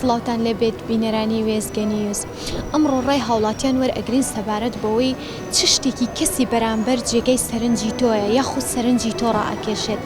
سڵاوتان لێبێت بینەرانی وێزگە نیوز ئەمڕۆ ڕای هاوڵاتیان وەرئەگرین سەبارەت بەوەی چ شتێکی کەسی بەرامبەر جێگەی سەرنجی تۆیە یاخود سەرنجی تۆ ڕائەکێشێت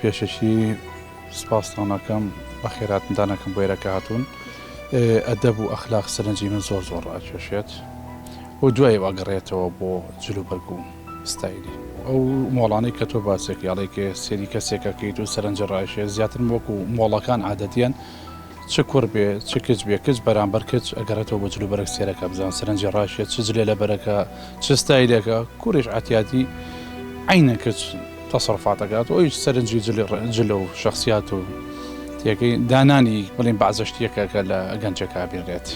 پێشەکی سپاستان ئەکەم بەخێرهاتنتان ئەکەم بۆ ئێرە کە هاتوون ئەدەب و ئەخلاق سەرنجی من زۆر زۆر ڕاکێشێت و دوای ئەگەڕێتەوە بۆ جل و بەرگ و ستایلی ئەو مۆڵانەی کە تۆ باسێک یاڵێکێ سێری کەسێکەکەیت و سەرنج ڕایشێ زیاتر وەکو مۆڵەکان عادەتیان چ کوڕ بێ چ کچ بێ کچ بەرامبەر کچ ئەگەڕێتەوە بۆ جل و بەرگ سێرەکە بزان سەرنجی ڕاشیە چ جلێ لە بەرەکە چ ستایلێکە کوڕیش عەتیاتی عەینە کچ تەسەڕوفاتەکات و ئەویش سەرنجی جلە و شەخسیات و تێکەی دانانی بڵێن بەعزە شتێکە کە لە گەنجەکە بینرێت.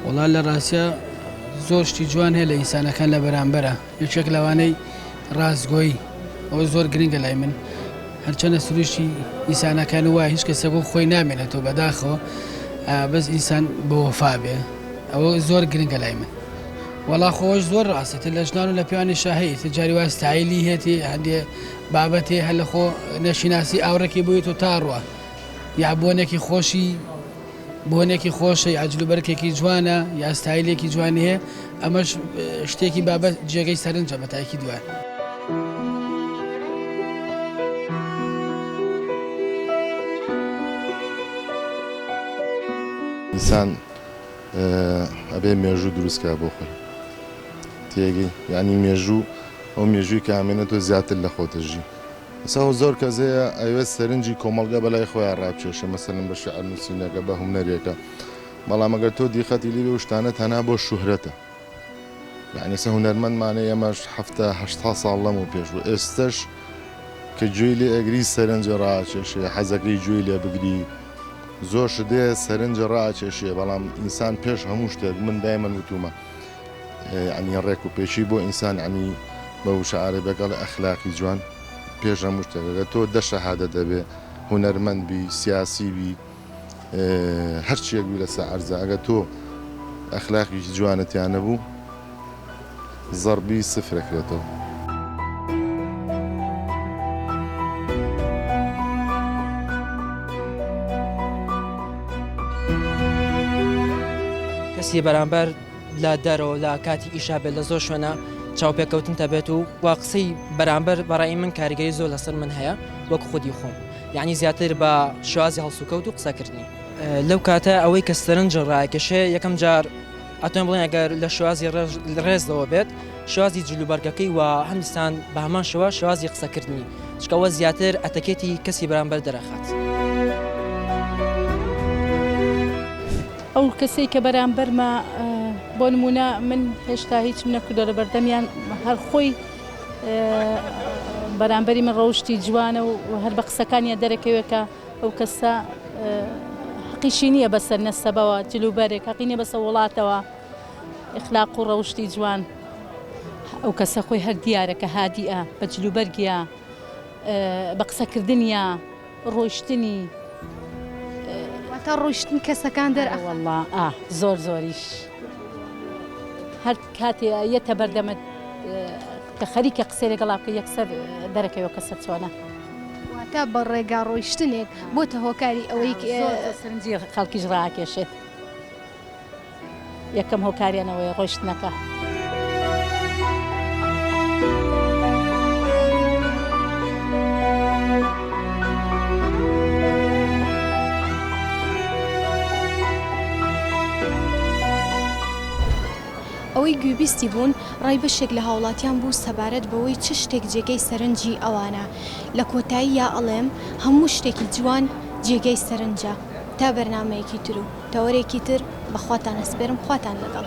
وەڵا لە ڕاستیا زۆر شتی جوان هەیە لە ئینسانەکان لە بەرامبەرا. یەکێک لەوانەی ڕاستگۆی ئەوە زۆر گرنگە لای من هەرچەنە سروشی ئیسانەکان وایە هیچ کەسێک بۆ خۆی نامێنێتەوە بەداخەوە بەس ئینسان بۆ وەفا بێ ئەوە زۆر گرنگە لای من وەڵا خۆش زۆر ڕاستە لە ژنان و لە پیانی شاهەیە جاری وا ستایلی هێتی هەندێ بابەتی هەلخۆ نەشیناسی ئاوڕێکی بوویت و تاڕوە یا بۆنێکی خۆشی بۆنێکی خۆشە، یا جلوبەرگێکی جوانە، یا ستایلێکی جوانی هەیە، ئەمەش شتێکی بابە جێگەی سەرنجە بە تاکی دوایە. ئینسان ئەبێ مێژوو دروست کا بۆ خۆی تێگەی یانی مێژوو ئەو مێژووی کامێنە تۆ زیاتر لە خۆتە ژی. سەهۆ زۆر کەس هەیە ئەیەوێت سەرنجی کۆمەڵگا بەلای خۆیان ڕابکێشێ مەسەلەن بە شیعر نووسینەکە بە هونەرێکە بەڵام ئەگەر تۆ دیقەتی لێ بێ ئەو شتانە تەنها بۆ شوهرەتە یەعنی سە هونەرمەندمانە ئێمەش حەفتا هەشتا ساڵ لەمەو پێش و ئێستەش کە گوێی لێ ئەگری سەرنجی ڕاکێشێ حەزەکەی گوێی لێ بگری زۆر شت هەیە سەرنجی ڕاکێشێ بەڵام ئینسان پێش هەموو شتێک من دایمەن وتوومە یەعنی ڕێک و پێکی بۆ ئینسان یەعنی بە وشە عارەبێک ئەڵێ ئەخلاقی جوان پێش هەموو شتێک ئەگەر تۆ دە شەهادە دەبێ هونەرمەند بی سیاسی بی هەرچیەک بی لەسە عەرزە ئەگە تۆ ئەخلاقیکی جوانتیان نەبوو زەڕبی سفرەکرێتەوە کەسی بەرامبەر لە دەرەوە لە کاتی ئیشا بێت لە زۆر شوێنە چاوپێکەوتن تەبێت و و قسەی بەرامبەر بەڕای من کاریگەری زۆر لەسەر من هەیە وەک خودی خۆم یعنی زیاتر بە شوازی هەڵسوکەوت و قسەکردنی لەو کاتە ئەوەی کە سەرنج ڕاکێشێ یەکەم جار ئەتۆن بڵێن ئەگەر لە شوازی ڕێژ ڕێزەوە بێت شوازی جلوبەرگەکەی و هەندستان بە هەمان شوە شوازی قسەکردنی چکەوە زیاتر ئەتەکێتی کەسی بەرامبەر دەرەخات. ئەو کەسەی کە بەرامبەرمە بۆ نمونە من هێشتا هیچم نەکردۆ لە بەردەمیان هەر خۆی بەرامبەری من ڕەوشی جوانە و هەر بە قسەکانیان دەرەکەوێکە ئەو کەسە حقیشی نییە بەسەر نەسەبەوە جلوبەرێک حقینە بەسە وڵاتەوە اخلاق و ڕەوشی جوان ئەو کەسە خۆی هەر دیارەکە هادیە بە جلوبەرگە بە قسەکردنیە ڕۆیشتنی واتە ڕۆیشتنی کەسەکان دەر ئەخەن. وەڵڵا ئا زۆر زۆریش هەر کاتێ یەتە بەردەمت کە خەریکە قسەی لەگەڵا بکەی یەکسەر دەرەکەوێ کەسە چۆنە. واتە بە ڕێگا ڕۆیشتنێک بۆتە هۆکاری ئەوەی. زۆر زۆر سەرنجی خەڵکیش ڕائەکێشێت. یەکەم هۆکاریان ئەوەیە ڕۆیشتنەکە. ئەوەی گوێبیستی بوون ڕای بەشێک لە هاوڵاتیان بوو سەبارەت بەوەی چ شتێک جێگەی سەرنجی ئەوانە لە کۆتاییا ئەڵێم هەموو شتێکی جوان جێگەی سەرنجە تا بەرنامەیەکی ترو تەوەرێکی تر بە خواتان ئەسپێرم خواتان لەگەڵ.